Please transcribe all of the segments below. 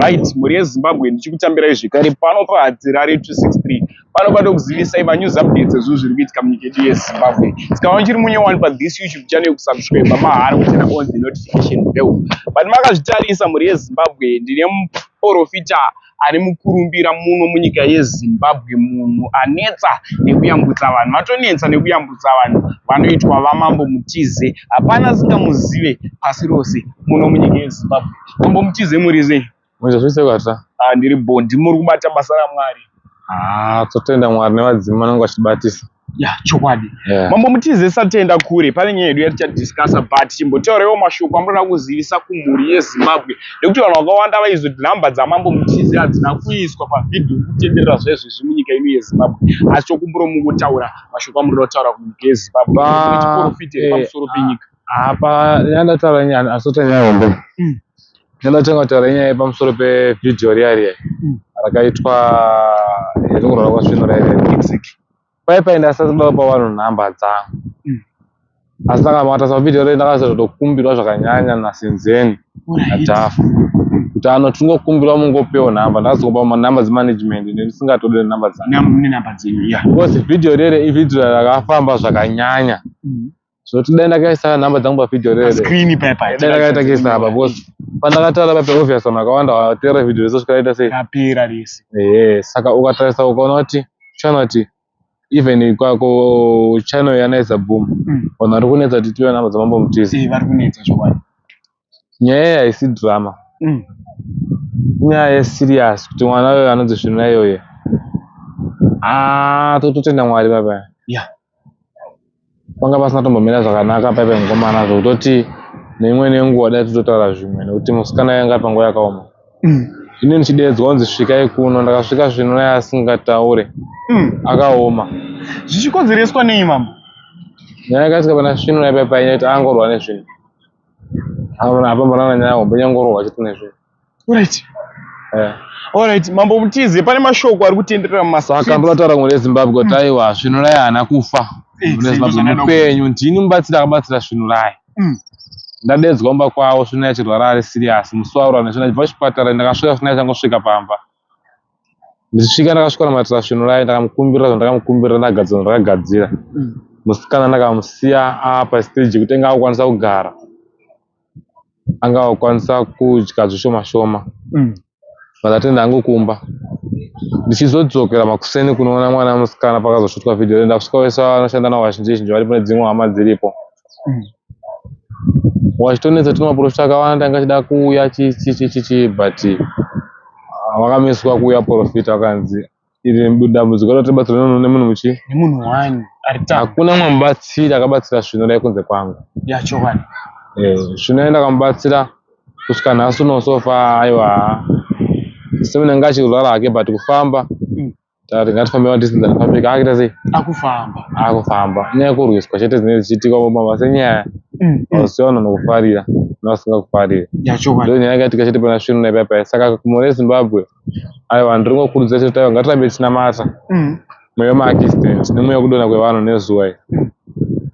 right mhuri yezimbabwe ndichikutambirai zvekare pano pahadzirare 263 pano pano kuzivisai manews updates ezvinhu zviri kuitika munyika yedu yezimbabwe sikava chiri munyowani pathis youtube channel yekusubscribe mahara kuchena on the notification bell but makazvitarisa mhuri yezimbabwe ndine muporofita ari mukurumbira muno munyika yezimbabwe munhu anetsa nekuyambutsa vanhu vatonetsa nekuyambutsa vanhu vanoitwa vamambo mutize hapana singamuzive pasi rose muno munyika yezimbabwe Tombo mutize muri sei? Manje zvese kwata. Ah ndiri bo ndimuri kubata basa ra Mwari. Ah totenda Mwari nevadzimu vanenge vachibatisa. Ya chokwadi. Yeah. Mambo mutize satenda kure pane nyaya yedu yaticha discussa but chimbotaurewo mashoko amurada kuzivisa kumhuri yeZimbabwe nekuti vanhu vakawanda vaizo nhamba dzamambo mutize hadzina kuiswa pavhidhiyo kutenderera zvaizvezvi munyika ino yeZimbabwe asi chokumburo mungotaura mashoko amurada kutaura kunyika yeZimbabwe chiporofita iri pamusoro penyika. apa yandataura nyaya asota nyaya hombe mm. yandatanga kutaura nyaya pamusoro pevhidhiyo riya riya mm. rakaitwa yatingorora kwasvino riya riya mexic pai pai ndasatoda kupa vanhu nhamba dzangu mm. asi ndakamatasa pavhidhiyo riya ndakazotokumbirwa zvakanyanya nasenzeni nadhafu kuti ano tingokumbirwa mungopewo nhamba ndakazokupa manhamba dzemanagement ndisingatode nhamba dzangu because vhidhiyo riya riya ivhidhiyo rakafamba zvakanyanya mm. zvoti dai ndakaisa number dzangu pavideo rere screen paper dai ndakaita kisa apa because pandakatara pape obvious vanhu vakawanda vatera video reso zvikaita sei yapera rese ehe saka ukatarisa ukaona kuti chana kuti even kwako channel yanaisa boom mm. vanhu vari kunetsa kuti tive number dzamambo mutizi vari kunetsa zvokwadi nyaya iyi haisi drama mm. nyaya yeserious kuti mwana uyo anonzi svina iyoye ah, tototenda mwari papa yeah. panga pasina tombomira zvakanaka paipa mukomana zvokutoti neimwe nenguva dai tototaura zvimwe nekuti musikana yanga ari panguva yakaoma mm. ini ndichideedzwa kunzi svikai kuno ndakasvika svino naye asingataure mm. akaoma zvichikonzereswa nei mama nyaya yakasvika pana svino naipaipainyati angorwa nezvino Hamuna hapa mwana nyaya hombe nyangoro wachiti nezve. Alright. Eh. Alright, mambo mutize pane mashoko ari kutenderera mumasa. Saka ndotara ngore Zimbabwe kuti aiwa svinulai haana kufa. Eh, Mune Zimbabwe mupenyu ndini mubatsira akabatsira svinulai. Mm. Ndadedzwa mba kwawo svinulai chirwara ari serious. Musi waura nezvina jva chipatara ndakasvika svinulai changosvika pamba. ndichisvika ndakasvika namatira svinu raye ndakamukumbirira zvandakamukumbirira ndagadzira ndakagadzira mm. musikana ndakamusiya apa stage yekuti anga akukwanisa kugara anga akukwanisa kudya zvishoma shoma mm. vandatenda hangu kumba ndichizodzokera makuseni kunoona mwana musikana pakazosvitwa vhidhiyo renda kusvika vese vanoshanda navo vazhinji zhinji varipo nedzimwe hama dziripo wachitonetsa tuma profita akawanda tanga chida kuuya chichichichi but vakamiswa kuuya profita vakanzi iri dambudziko rati batsira nono nemunhu muchi nemunhu wani hakuna mwe mubatsira akabatsira svino dai kunze kwangu yacho wani eh svino enda kamubatsira kusvika nhasi unosofa aiwa semene ngachirwara hake but kufamba hmm. Tari ngatifambe madistance anofambika akuita sei? Akufamba. Akufamba. Nyaya yekurwiswa chete dzinenge dzichiitika mumama senyaya. Mm. Usiona mm. nokufarira novasingakufariri. Yachokwadi. Ndio nyaya yakaitika chete pana Shwiro naipa paya. Saka kumore Zimbabwe. Ayo vanhu tiri ngokurudzira chete tayo ngatirambe tinamata. Mm. Mweya maakistent nemweya kudona kwevanhu nezuwa iri.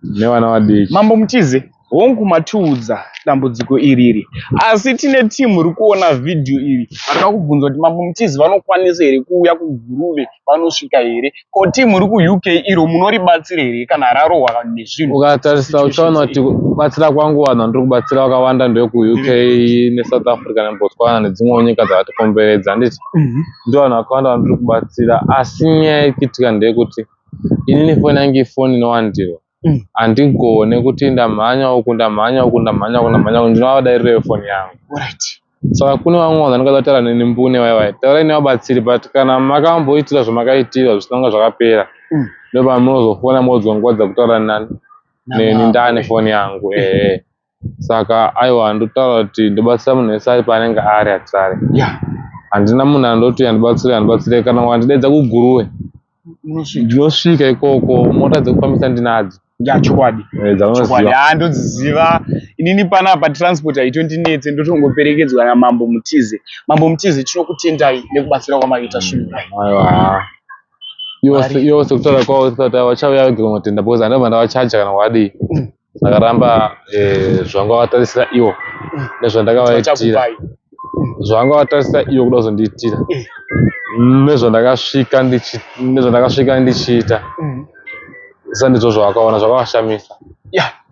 Nevana vadiki. Mambo Mutize. Hongu matiudza dambudziko iri iri asi tine team iri kuona video iri vanoda kubvunza kuti mambo mutizi vanokwanisa here kuuya kuguruve vanosvika here ko team iri kuuk iro munoribatsira here kana rarohwa nezvinhu ukatarisa uchaona kuti batsira kwangu vanhu vandiri kubatsira vakawanda ndevekuuk nesouth africa nebotswana nedzimwewo nyika dzakatikomberedza handiti mhm. ndo vanhu vakawanda vandiri kubatsira asi nyaya ikitika ndeyekuti inini foni yange ifoni inowandirwa mm. handigone mm. kuti ndamhanya uku ndamhanya uku ndamhanya uku ndamhanya uku ndinova vadairiro yefoni yangu right saka kune vamwe vanhu vanoda kutaura neni mbune vaiva taurai nevabatsiri but kana makamboitira zvamakaitirwa zvisina kunge zvakapera mm. ndopamunozofona modzwa nguva dzakutaura nani neni ndane foni yangu ehe saka aiwa ndotaura kuti ndobatsira munhu wese ari paanenge ari atirare yeah. handina munhu andoti andibatsire andibatsire kana wandidaidza kuguruwe ndinosvika ikoko mota dzekufambisa ndinadzo ya chokwadi eh, chokwadi haa ndodziziva inini panapa transport haitondinetse ndotongoperekedzwa namambo mutize mambo mutize tinokutendai nekubatsira kwamaita svinhu aiwa iwo sekutaura kwavo sekutaura vachauya vega kumatenda because handava ndavachaja kana wadii ndakaramba eh, zvanga vatarisira ivo nezvandakavaitira zvanga vatarisira ivo kuda kuzondiitira nezvandakasvika nezvandakasvika ndichiita mm. sa ndizvo zvavakaona zvakavashamisa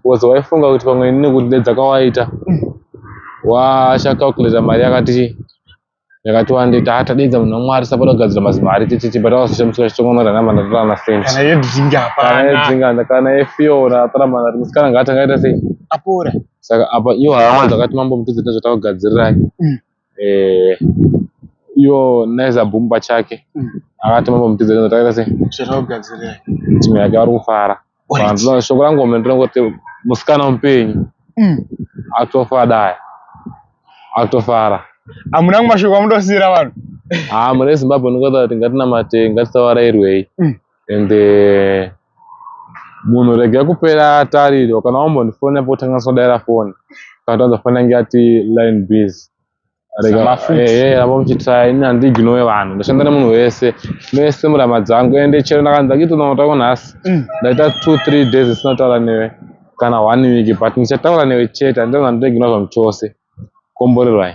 bcause waifunga kuti pamwe nekuti nedzakawaita mm. wachacalculata mari yakati yakati wande taa tadedza munhu wamwari sapoda kugadzira mazimari tititi but awasishamisika chitongono ranamba ndatora masent kana yedzinga hapana yedzinga kana yefiona atora manari musikana ngaati angaita sei apora saka apa iyo hama dzakati mambo mutudzi nezvatakugadzirirai mm. eh, iyo naiza boom pachake mm. akati mambo mutudzi nezvatakaita sei zvatakugadzirai timu yake vari kufara Vanhu shoko rangu omene ndinongoti musikana mupenyu mm. atofara daya atofara hamuna kumashoko amudosira vanhu haa mune zimbabwe ndingoita kuti ngatinamate ngatisavarairwei mm. and eh, munhu rega kupera tarirwa kana wambondifona potangaswa daira foni kana tanza foni yange yati line busy vambomuchitaya ini handiignowe vanhu ndoshanda nemunhu wese mese murama dzangu ende chero ndakanzi akitonaotako nhasi mm. ndaita two three days isina taura newe kana one week but ndichataura newe chete handina zvandoignowa zvamu chose komborerwai